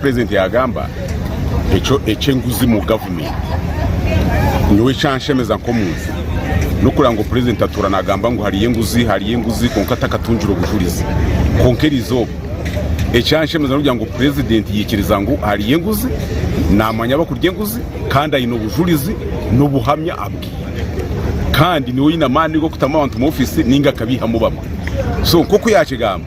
Purezidenti yaagamba, Ekyo eky'enguzi mu gavumenti nyowe ekyanshemeza nk'omuntu n'okureba ngu purezidenti atuura naagamba ngu hariyo enguzi, hariyo enguzi kwonka atakatungire obujurizi. Kwonka eri izooba ekyanshemeza n'okugira ngu purezidenti yaikiriza ngu hariyo enguzi, naamanya abakurya enguzi kandi aine obujurizi n'obuhamya abwine. Kandi niwe oine amaani g'okutamu abantu omu ofiisi nainga akabeihamu bamwe. So nk'oku yaakigamba.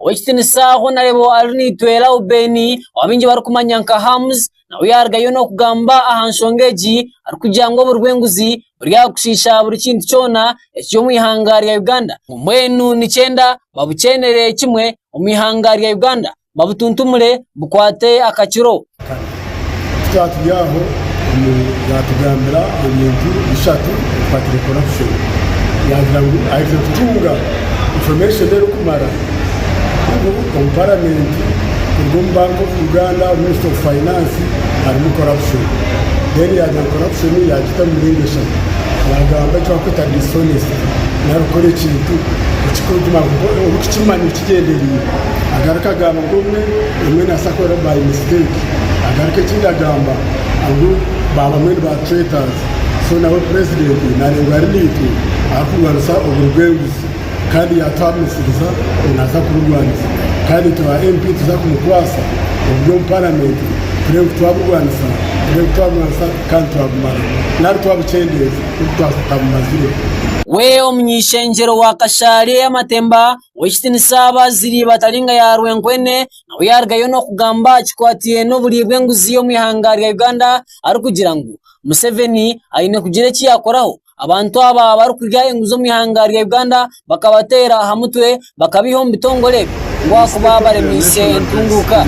Ow'ekitiniisa ahu nareeba ari naitwe Lauben ou baingi barikumanya nka Hams nawe yarugayo n'okugamba aha nshonga egi arikugira ngu oburi bw'enguzi buri aha kushiisha buri kintu kyona ekiri omu ihanga rya Uganda. Mbwenu nikyenda babukyenere kimwe omu ihanga rya Uganda babutuntumure bukwate akakiro. Ku twaba turi aho, omwe yaatugambira ebintu bishatu ebi twaabaire nikikora kushoma. Yaagira ngu aihikire kutunga information erikumara ngu omu paramenti kuruga omu Bank of Uganda, omu ministry of finance harimu corruption. Then yaagira ngu corruption yaagita omu miringo eshatu. Yaagamba eki barikweta dishonesty, nari kukora ekintu orikukimanya ngu Kigyendereire agaruka agamba ngu obumwe obumwe nasa kuba by mistake agaruka ekindi agamba ngu ba bamwe ni ba traitors so nawe president narengwa ari naitwe arikurwanisa oburi bw'enguzi kandi yatuha misiriza ngu naza kuburwanisa kandi itwe ba MP tuza kumukwasa oburi omu parliament turebe ku twaburwanisa turebe ku twaburwanisa kandi twabumara nari twabukyendeeza ku tutabumazireho. We omuny'ishengyero wa Kashaari ey'amatemba ow'ekitinisa abaazire batari nka ya rwenkwene nabo yaarugayo n'okugamba aha kikwataine n'oburyo bw'enguzi omu ihanga rya Uganda arikugira ngu Museveni aine kugira eki yaakoraho abantu aba barikurya enguzi omu ihanga rya Uganda bakabateera aha mutwe bakabaiha omu bitongore ngu ahakuba baremiise entunguuka.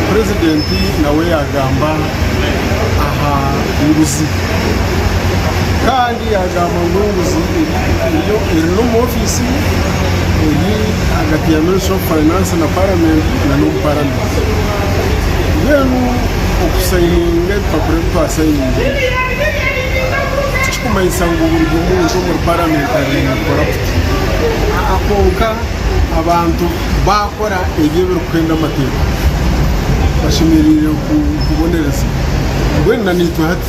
Purezidenti nawe yaagamba aha nguzi. Yaagamba ngu enguzi eri n'omu ofiisi ye eri ahagati ya minisita ofu fainansi na paramenti na n'omu paramenti mbwenu okusayininga ebipapura ebi twasayininze tikikumanyisa ngu buri muntu omuri paramenti ariyo naakora kuti aa kwonka abantu baakora ebi ebirikuhenda amateeka bashemereire kubonerezibwa mbwenu na naitwe hati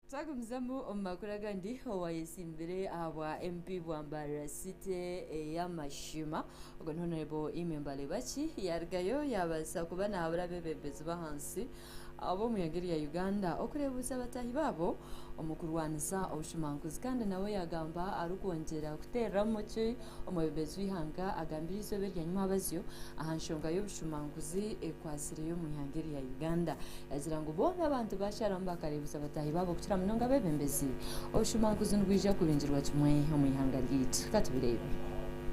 Twagumizamu omu makuru agandi, owaayetsimbire ahabwa MP bwa Mbarara City ey'amashima, ogwo ni Honourable Immy Mbalebaki yaarugayo yaabaasa kuba naahabura abeebembezi b'ahansi ab'omu ihanga erya Uganda okureebuuza bataahi baabo omu kurwanisa obushumankuzi kandi nawe yaagamba arikwongyera kuteereramu ki omwebembezi w'eihanga agambire eizooba erya nyimabazyo aha nshonga y'obushumankuzi ekwatsire Minisitule y'omwihanga erya Uganda yagira ngu boona abantu bakyaramu bakareebutsa bataahi baabo kukira munonga abeebembezi. Obushuumaankuzi nibwija kubingirwa kimwe omwihanga ryaitu. Katubireebe.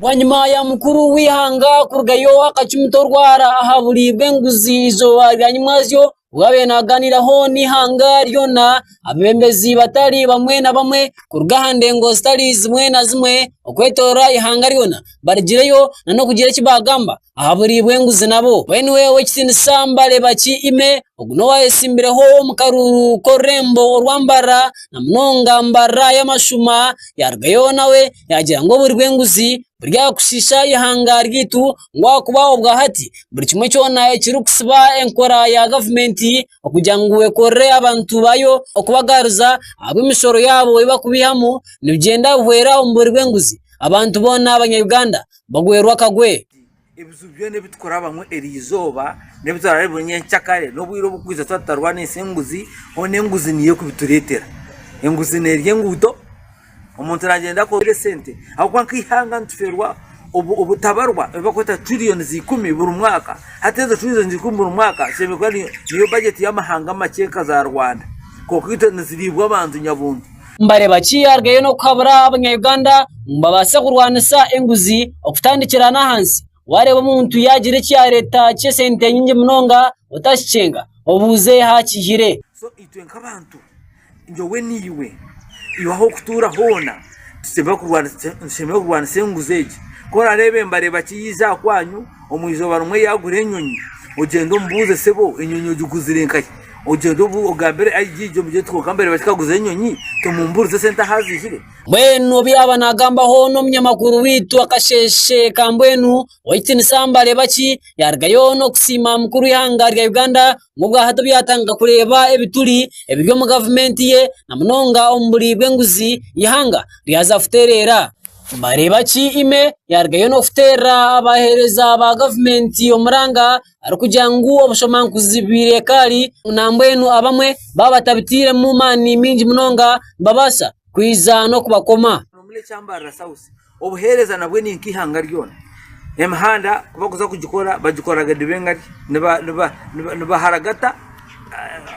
Bwanyima ya mukuru w'eihanga kurugayo akacumita orwara aha buri bw'enguzi eizooba rya nyimwazyo obu yaabaire nagaaniiraho n'eihanga ryona abebembezi batari bamwe na bamwe kuruga aha ndengo zitari zimwe na zimwe okwetooroora eihanga ryona. barigireyo nana okugira eki bagamba aha buri bw'enguzi nabo. Mbwenu iwe ow'ekitiinisa mbareeba ki ime, ogu n'owa ayetsimbiremu omu karuuru k'orurembo orwa mbarara, na munonga mbarara y'amashuma, yaarugayo nawe yaagira ngu oburi bw'enguzi buri aha kushiisha eihanga ryaitu, ngu ahakuba obwa hati buri kimwe kyona ekirikutsiba enkora ya gavumenti okugira ngu ekorere abantu baayo okubagaruza ahabw'emishoro yaabo ei barikubaihamu nibigyenda bihwera omu buri bw'enguzi. Abantu boona abanya-Uganda bagwerwe akagwe. Ebiju byona ebi turikurabamu eri izooba n'ebi turaabe buri nyenkya kare n'obwire oburikwija twaba tutarwanise enguzi, hoona enguzi niyo erikubitureetera. Enguzi neerya enguuto, omuntu naagyenda akoorere sente ahabw'okuba nk'eihanga nitufeerwa obutabarwa ebi barikweta trillions ikumi buri mwaka. Hati ezo trillions ikumi buri mwaka zishemereire kuba niyo bajeti y'amahanga makye nka za Rwanda, kwonka itwe nizibiibwa abantu nyabuntu. nibareeba ki yaarugayo n'okuhabura Abanya-Uganda ngu babaase kurwanisa enguzi okutandikira n'ahansi. Waareeba omuntu yaagira eki yaareeta ky'esente nyingi munonga otakikyenga obuuze aha kiihire. So itwe nk'abantu nyowe naiwe, iwe ah'okutuura hoona nitushemererwa kurwanisa enguzi egi. Ku oraareebe nibareeba ki yaija aha kwanyu. Omu izooba rimwe yaagura enyonyi, ogyende omubuuze sebo enyonyi ogiguzire nkahi, ogyende ogambire IGG omugyete kwonka mbwenu bati kaguza enyonyi tumumburize sente ahu aziihire. Mbwenu obu yaaba naagamba hoona omunyamakuru waitu akasheeshe ka mbwenu owaitu Nisambare Baki yaarugayo n'okusiima mukuru w'eihanga rya Uganda ngu obwahati obu yaatandika kureeba ebituri ebiri omu gavumenti ye na munonga omu buri bw'enguzi eihanga ryaza kutereera. Nibareebaki ime yaarugayo n'okuteerera abaheereza ba gavumenti omuranga arikugira ngu obushomaankuzi bwire ekaari nambwenu abamwe baaba batabitairemu maani maingi munonga nibabaasa kwija n'okubakoma.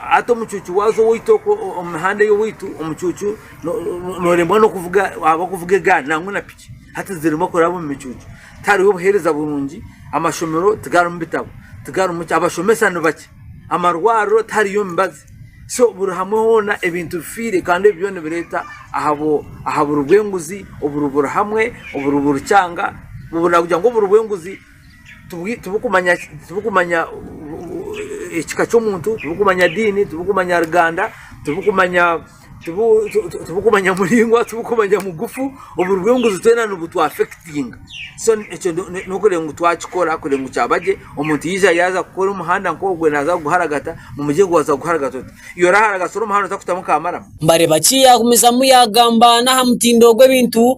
Hati omucuucu waaza owaitu okwo omu mihanda ey'owaitu, omucuucu noremwa n'okuvuga waaba okuvuga egaari nangwa na piki. Hati ziremwa kuraba omu micuucu. Tihariho buheereza burungi, amashomero tigarimu bitabo, tigarimu ki, abashomesa ni bakye, amarwariro tihariyo mibazi. So buri hamwe hoona ebintu bifiire kandi ebyo byona nibireeta aha buri bw'enguzi, oburi buri hamwe, oburi buri kyanga, oburi nagira ngu oburi bw'enguzi. tibirikumanya ekika ky'omuntu, tibirikumanya diini, tibirikumanya ruganda, tibirikumanya muraingwa, tibirikumanya mugufu, oburi bw'enguzi twena nibutwafekitinga, so ekyo n'okureeba ngu twakikora kureeba ngu kyaba gye, omuntu yaija yaaza kukora omuhanda nk'ogwe naaza kuguharagata, mumugye ngu waaza kuguharagata ota? Iwe oraharagatsira omuhanda otakutamu ka maramu? Mbareeba ki yaagumizamu yaagamba n'aha mutindo gw'ebintu.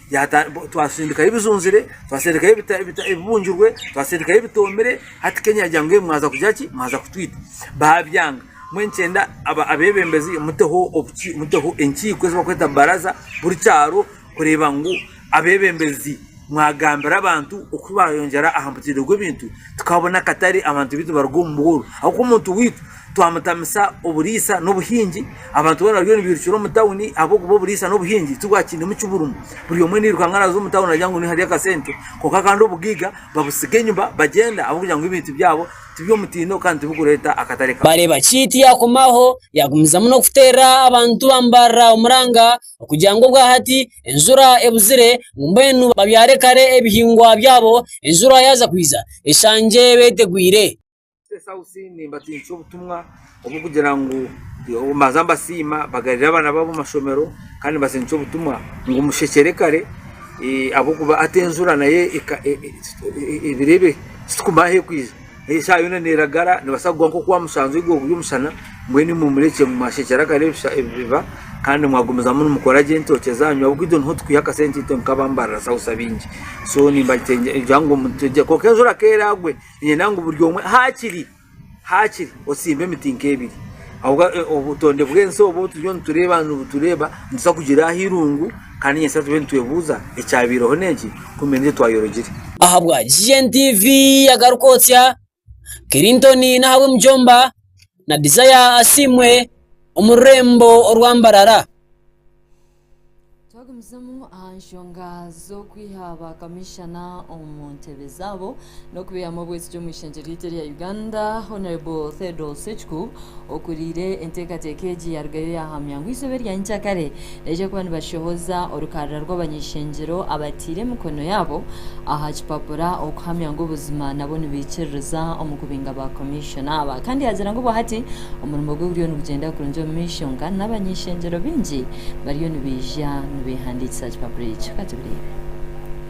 Twasindikayo ebijunzire, twasindikayo ebibungirwe, twasindikayo ebitoomire, hati Kenya yagira ngu mwaza kugira ki? Mwaza kutwita. Baabyanga. Mbwenu nikyenda abeebembezi muteho obuki? Muteho enkiiko ezi barikweta baraza buri kyaro kureeba ngu abeebembezi mwagambira abantu oku baayeyongyera aha mutindo gw'ebintu, tukabona akatare abantu baitu baruga omu bworo ahabw'okuba omuntu waitu. Twamutamisa oburiisa n'obuhingi, abantu boona bariyo nibairukira omu tauni ahabw'okuba oburiisa n'obuhingi tibwakiinemu kiburumu. Buri omwe nairuka ngu araaze omu tauni aragira ngu niho hari akasente kwonka kandi obugaiga babutsiga enyima bagyenda ahabw'okugira ngu ebintu byabo tiby'omutindo kandi tibikureeta akatare kakye. Bareeba Kiiti yaakomaho yaagumizamu n'okuteerera abantu ba Mbarara omuranga okugira ngu obwahati enjura ebuzire ngu mbwenu babyare kare ebihingwa byabo enjura yaaza kwiza eshangye beetegwire. State house nimbatinisa obutumwa obw'okugira ngu mbanza mbasiima bagarire abaana baabo omu mashomero kandi nibatinisa obutumwa ngu mushekyere kare ahabw'okuba hati enjura nayo ebiro ebi titukumanya ahu erikwija eshaaha yoona neeragara neebaasa kugwa nk'oku aha mushanju ogu oguri omushana mbwenu imwe murekye mwashekyera kare biba kandi mwagumizamu nimukora gye entookye zaanyu ahabw'okuba itwe niho tukwiha akasente itwe nk'abambarira south abaingi so nimbagira ngu kwonka enjura ku eraagwe Niinyenda ngu buri omwe haakiri haakiri otsimbe emiti nk'ebiri. Ahabw'okuba e, obutonde bw'ensi obu turiyo nitureeba nibutureeba nituza kugira aha irungu kandi nyatsya tube nitwebuuza ekyabaireho n'enki kumbe n'ekyo twayorogire. Ahabwa GNTV agaruka otya Clinton Nahabwe Mujomba na Desire Asiimwe omu rurembo orwa Mbarara. Twagumizamu aha nshonga z'okwiha ba kamishana omu ntebe zaabo n'okubeihamu obwesigi omu ishengyero ryaitu erya Uganda, Honourable Theodore Sechuku okuriire enteekateeka egi yarugayo yahamya ngu eizooba erya nyikyakare nibaija kuba nibashohoza orukarara rw'abanyeshengyero abataire emikono yaabo aha kipapura okuhamya ngu obuzima nabo nibaikiririza omu kubinga ba kamishana. Shanaaba kandi yaagira ngu obwahati omurimo gwe guriyo nigugyenda kurungi omu maisho nka n'abany'eishengyero baingi bariyo nibaija nibeehandiikisa aha kipapura ekyo. Ka tubireebe.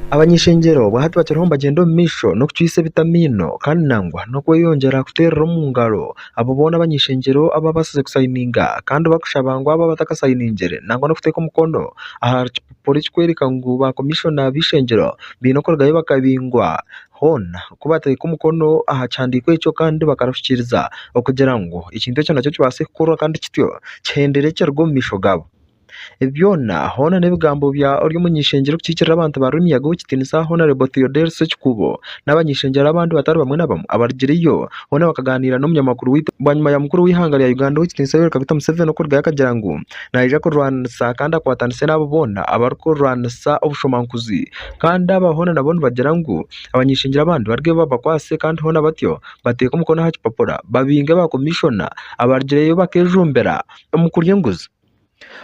Abany'eishengyero obwahati bakiriho nibagyenda omu maisho n'okucwitsa ebitamiino kandi nangwa n'okweyongyera kuteerera omu ngaro abo boona abany'eishengyero abaabaasize kusayininga kandi barikushaba ngu abaaba batakasayiningire nangwa n'okuteeka omukono aha kipapura ekirikworeka ngu baakomishona b'eishengyero baine kurugayo bakabingwa Hoona ku batateeka omukono aha kihandiiko ekyo kandi bakaruhikiiriza okugira ngu ekintu ekyo nakyo kibaase kukorwa kandi kityo kihendere ekiruga omu maisho gaabo. Ebi byona hoona n'ebigambo bya Oryomwishengye Orikukiikirira Abantu ba Rwemiyaga Ow'ekitiinisa Honarebo Theodore Sekikuubo n'abanyeshengyerwa abandi batari bamwe na bamwe abarugireyo boona bakagaaniira n'omunyamakuru waitu bwanyima ya mukuru w'eihanga rya Uganda Ow'ekitiinisa Yoweri Kaguta Museveni okurugayo akagira ngu naija kurwanisa kandi akwatanise n'abo boona abarikurwanisa obushomankuzi Kandi aba hoona nabo nibagira ngu abanyeshengyero abandi barugeyo babakwase kandi hoona batyo bateeke omukono aha kipapura babinge ba komishona abarugireyo bakejumbira omu kurya enguzi.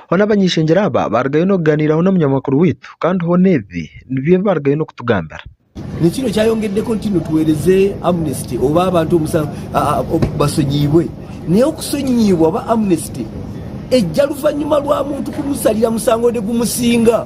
Hoona abanyeshengyero aba barugayo n'okuganiiraho n'omunyamakuru waitu kandi hoona ebi nibyo ebi barugayo n'okutugambira. Ekiro kyayongeddeko nti no tuwereze Amnesty oba abantu omusango basonyiibwe. Naye okusonyiibwa oba Amnesty ejja luvanyuma lwa muntu kumusalira musango nigumusinga.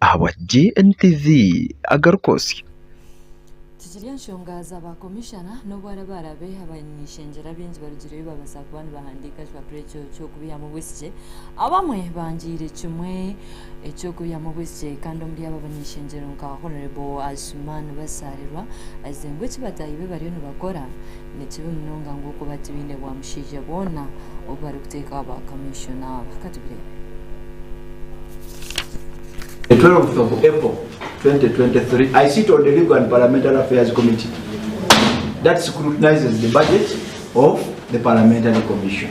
Ahabwa GNTV agaruka osya. Tikiri enshonga za ba komishana n'obu araba arabe abanyeshengyero abaingi barugireyo babaasa kuba nibahandiika ekipapura ekyo ky'okubihamu obwisgye. Abamwe bangiire kimwe eky'okubihamu obwisgye kandi omuri abo abanyeshengyero nka Hon Asuman Basaalirwa ayize ngu eki bataahi be bariyo nibakora Ni kibi munonga ngu okuba tibaine bwamushaija boona obu barikuteekaho ba kamiishona aba. Ka tubireebe. The twelfth of April, twenty twenty three, I sit on the Legal and Parliamentary Affairs Committee that scrutinises the budget of the Parliamentary Commission.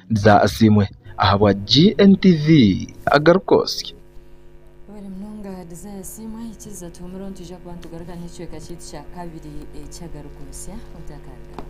Bza asiimwe ahabwa GNTV agarukoosya. Wera munonga Desire Asiimwe, ikiriza tuhumure onu twija kuba nitugaruka n'ekicweka kyaitu kya kabiri eky'agarukoosya otakarugaho.